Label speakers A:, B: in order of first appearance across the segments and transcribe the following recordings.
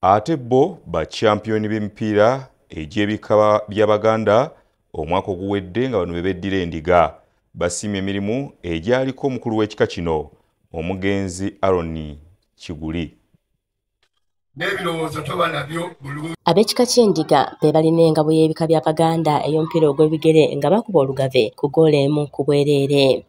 A: ate bo bakyampiyoni b'emipiira egy'ebika bya baganda omwaka oguwedde nga bano bebeddira endiga basiima emirimu egyaliko omukulu w'ekika kino omugenzi aroni kiguli n'ebirowoozo toba
B: nabyo bulungi ab'ekika ky'endiga be balina engabo y'ebika bya baganda ey'omupiira ogw'ebigere nga bakuba olugave ku goola emu ku bwereere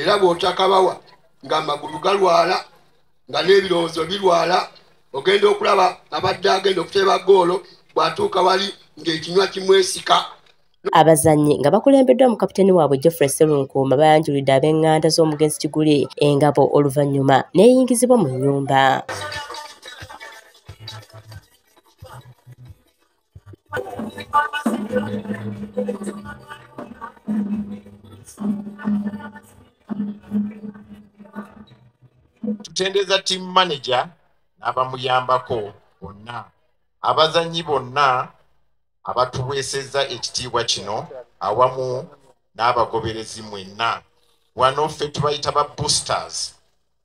C: era bw'otakabawa ng'amagulu galwala nga n'ebirowoozo birwala ogenda okulaba abadde agenda okuteeba goolo bw'atuuka wali ng'ekinywa kimwesika abazannyi
B: nga bakulembeddwa mu kapiteeni waabwe geoffrey serunkuuma bayanjulidde ab'eŋŋanda z'omugenzi kiguli engabo oluvannyuma n'eyingizibwa mu nnyumba
D: tutendereza team manager n'abamuyambako bonna abazannyi bonna abatuweesezza ekitiibwa kino awamu n'abagoberezi mwenna wano ffe tubayita ba boosters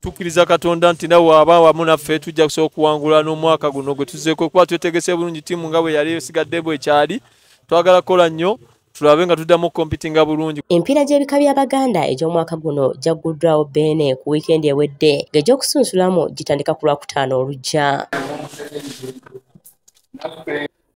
D: tukkiriza
E: katonda nti nawe aba wamu naffe tujja kusobola okuwangula n'omwaka guno gwe tuzeeko kuba twetegese bulungi tiimu nga bwe yali esigadde bwe kyali twagala kukola nnyo tulabe nga tuddamu okompitinga bulungi empiira gy'ebika by'abaganda egy'omwaka guno gyagguddwawo beene ku wiikendi ewedde ng'egy'okusunsulamu gitandika ku lwakutaano olujja